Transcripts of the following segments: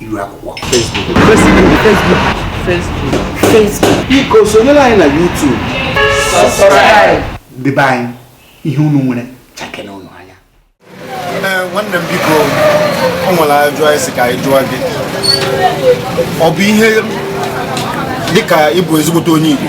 iru akwụkwọ biko sonyere anyị na YouTube debe anyị ihe unu nwere chakene unu anya eh, nwanne m biko o nwere ajụjụ anyị sị ka anyị jụọ gị ọ bụ ihe dịka ịbụ ezigbote onye Igbo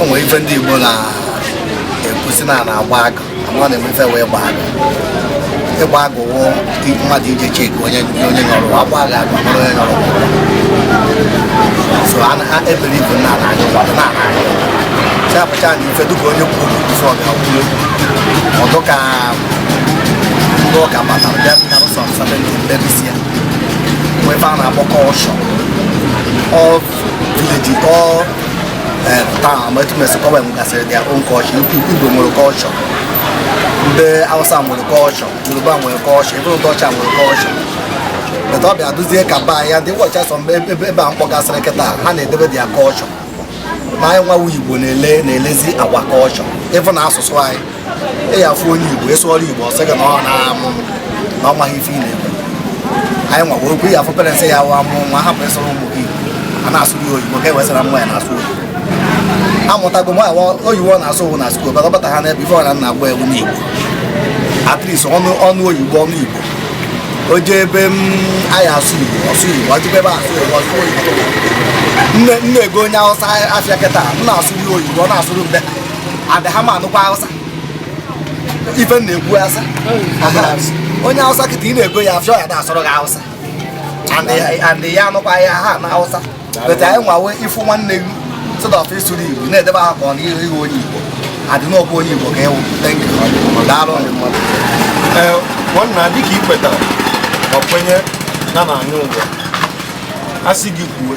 o nwere ife ndị Igbo na-ekwu sị na a na-agba agụ ama na-eme ife wee gbaa agụ ịgba agụ wụ mmadụ ije cheki onye onye nọrọ a gbaa agụ agụ mara onye nọrọ so a na ebere ibu na na agụ na na agụ chapụcha na ife dịka onye kwuru ụzọ ga kwuru ọ dịka ndị ụka batara bịa bịa ụzọ nsabere mebisia wee ife a na-akpọ culture ndị Hausa nwere culture Yoruba nwere culture even ndị ọcha nwere culture but ọ bịa dịzie ka ba ya ndị ụbọchị asọ mgbe ebe a m kpọgasịrị kịta ha na-edebe their culture ma anyị nwa wụ Igbo na-ele na-elezi our culture ị fụ na asụsụ anyị ị ya-afụ onye Igbo ị sụọrọ Igbo ọ sị gị na ọ na-amụ na ọ maghị ife ị na-ekwu anyị nwagwa okwu ya afụ parents ya wa mụ nwa hapụ ịsụrụ ụmụ gị a na-asụrụ ya oyibo ka e wee sị na nwa ya na-asụ oyibo amụtago m oyibo ọ na-asụ ọ wụ na school bata bata ha n'ebe ife ọra na agba ewu n'igbo at least ọ nụ ọ nụ oyibo ọ nụ igbo o jee ebe m anyị asụ igbo ọ sụ igbo o jebe ebe asụ igbo ọ sụ oyibo na m na-ego onye awụsa afịa kịta m na-asụrụ ya oyibo ọ na-asụrụ mbe and ha ma anụkwa Hausa ife m na-ekwu asa onye Hausa kịta ị na-ego ya afịa ya na-asụrụ gị Hausa and ya- and ya anụkwa ya ha na Hausa but anyị nwawe ị fụ nwanne gị instead of ịsụrụ Igbo ị na-edebe ha ka ọ na ihe iwe onye Igbo and ọ kwa onye Igbo ka ị wụ thank you daalụ Ee, nwanna dịka i kwetara ma kwenye na a na-anyọ ụwa a sị gị kwuo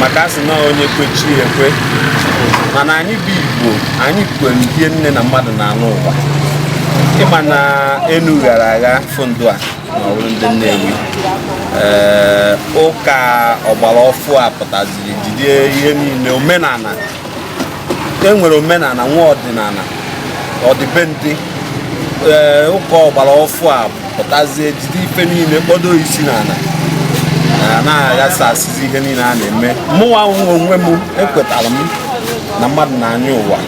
maka a sị na onye kwe chi ekwe mana anyị bụ igbo anyị kwenyere na mmadụ na-anọ ụwa ị ma na enu ghara agha ife ndị a na ọ wụrụ ndị nnewi ee ụka ọgbara ọfụụ a pụtaziri jide ihe niile omenala e nwere omenala nwee ọdịnala ọdịbendị ee ụka ọgbara ọfụụ apụtazie jide ife niile kpọdo isi n'ala a na-aghasa asịzi ihe niile a na-eme mụnwa nwe onwe m ekwetara m na mmadụ na-anyọ ụwa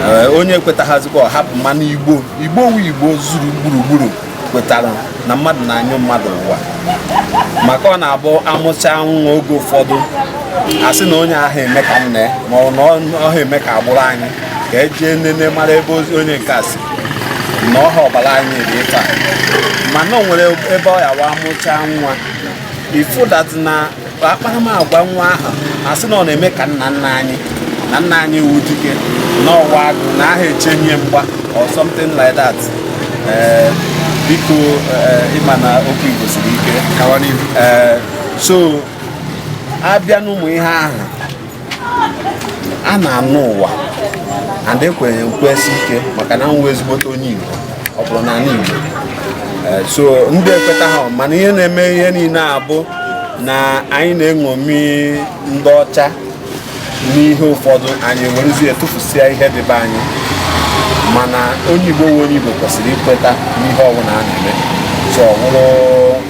Ee, onye ekwetaghazikwa ọ hapụ mana igbo igbo wụ igbo zuru gburugburu kwetara na mmadụ na-anyọ mmadụ ụwa maka ọ na-abụ a mụcha nwa oge ụfọdụ a sị na onye ahụ eme ka nne ma ọ nna ọ ha eme ka agbụrụ anyị ka e jee nene mara ebe onye nke a si na ọha ọbara anyị dị ife a mana o nwere ebe ọ ya-awụ a mụcha nwa ị fụ that na akparamagwa nwa ahụ a sị na ọ na-eme ka nna nna anyị na nna anyị wụ dike n'ọwa agụ na aha echenye mgba or something like that eh, biko eh, ị ma na okwu Igbo siri ike eh, so a bịa n'ụmụ ihe ahụ a na-anọ ụwa and ekwenyere nkwesi ike maka na m wụ ezigbote onye Igbo ọ bụrụ n'anị Igbo eh, so ndị ekweta ha mana ihe na-eme ihe niile abụ na anyị na-eṅomi ndị ọcha n'ihe ụfọdụ anyị werezie tụfusịa ihe dị be anyị mana onye Igbo wụ onye Igbo kwesịrị ikweta n'ihe ọbụla a na-eme so ọ bụrụ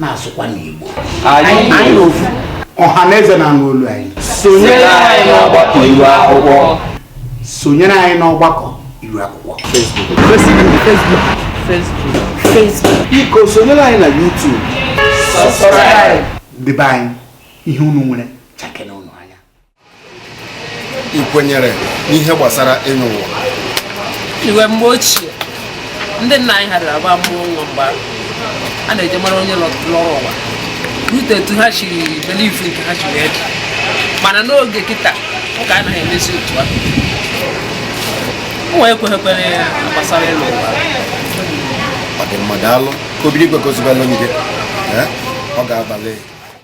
na-asụkwa n'Igbo anyị na ofu ọha na eze na-anụ olu anyị sonyere anyị n'ọgbakọ iru akwụkwọ sonyere anyị n'ọgbakọ iru akwụkwọ biko sonyere anyị na YouTube debe anyị ihe unu nwere chakena ị kwenyere n'ihe gbasara ịnọ ụwa iwe mgbe ochie ndị nna anyị ha dara agba a mụọ nwa mgbe a na-eje mara onye lọrọ ụwa rute etu ha siri believe nke ha siri ede mana n'oge kịta ụka anaghị emezi otu a mụwa ekweghịkwere ya gbasara ịlọ ụwa ọ dị mma daalụ ka Obinigwe gọzibelụ gị ọ ga-abalị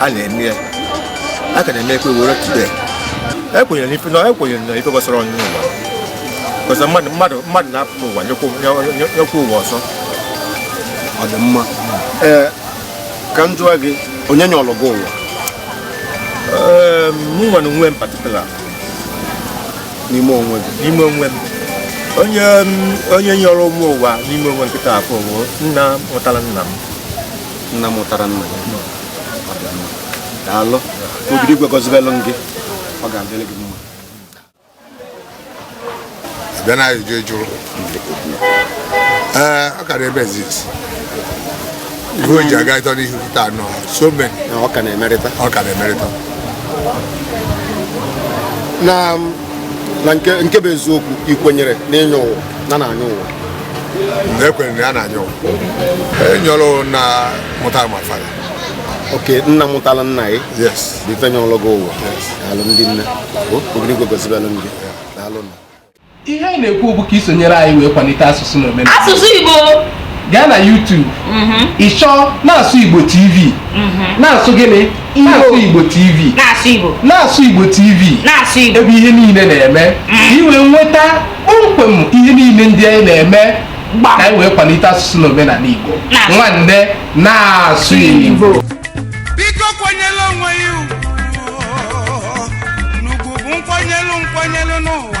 a na-eme ya a ka na-eme ekwe were today ekwenyere n'ife na ekwenyere na ife gbasara ọnyụnyọ ụwa ọzọ mmadụ mmadụ mmadụ na-apụ n'ụwa nyọkwa nyọ- nyọ- nyọkwa ụwa ọzọ ọ dị mma ee ka m jụọ gị onye nyọrọ gị ụwa Ee, mụ nwa onwe m particular n'ime onwe gị n'ime onwe m onye m- onye nyọrọ mụ ụwa n'ime onwe m kịta afụ bụ nna mụtara nna m nna mụtara nna ya daalụ Obinigwe gọzibelụ gị ọ ga-adịrị gị mma bịa na ajụjụ ị jụrụ ee ọ ka na-eme exist ihe o ji aga ịtọ n'ihu taa nọ so many ọ ka na-emerịta ọ ka na-emerịta na na nke bụ eziokwu ị kwenyere na ịnyọ ụwa na a na-anyọ ụwa ekwere na ya na-anyọ ụwa enyọrọ nna mụtara my father ok nna mụtara nna gị bụ ife nyọrọ gị ụwa daalụ ndị nne Obinigwe gọzibelụ gị daalụ nna ihe anyị na-ekwu bụ ka i sonyere anyị wee kwalite asụsụ na omenala asụsụ Igbo gaa na YouTube mhm. ị chọọ na-asụ Igbo TV mhm. na-asụ gịnị na-asụ Igbo TV na-asụ Igbo na-asụ Igbo TV na-asụ Igbo ebe ihe niile na-eme mm. ka i wee nweta kpọmkwem ihe niile ndị anyị na-eme ka anyị wee kwalite asụsụ na omenala Igbo nwanne na-asụ Igbo biko kwanyere onwe ya ugwu na ugwu bụ nkwanyere nkwanyere n'ụwa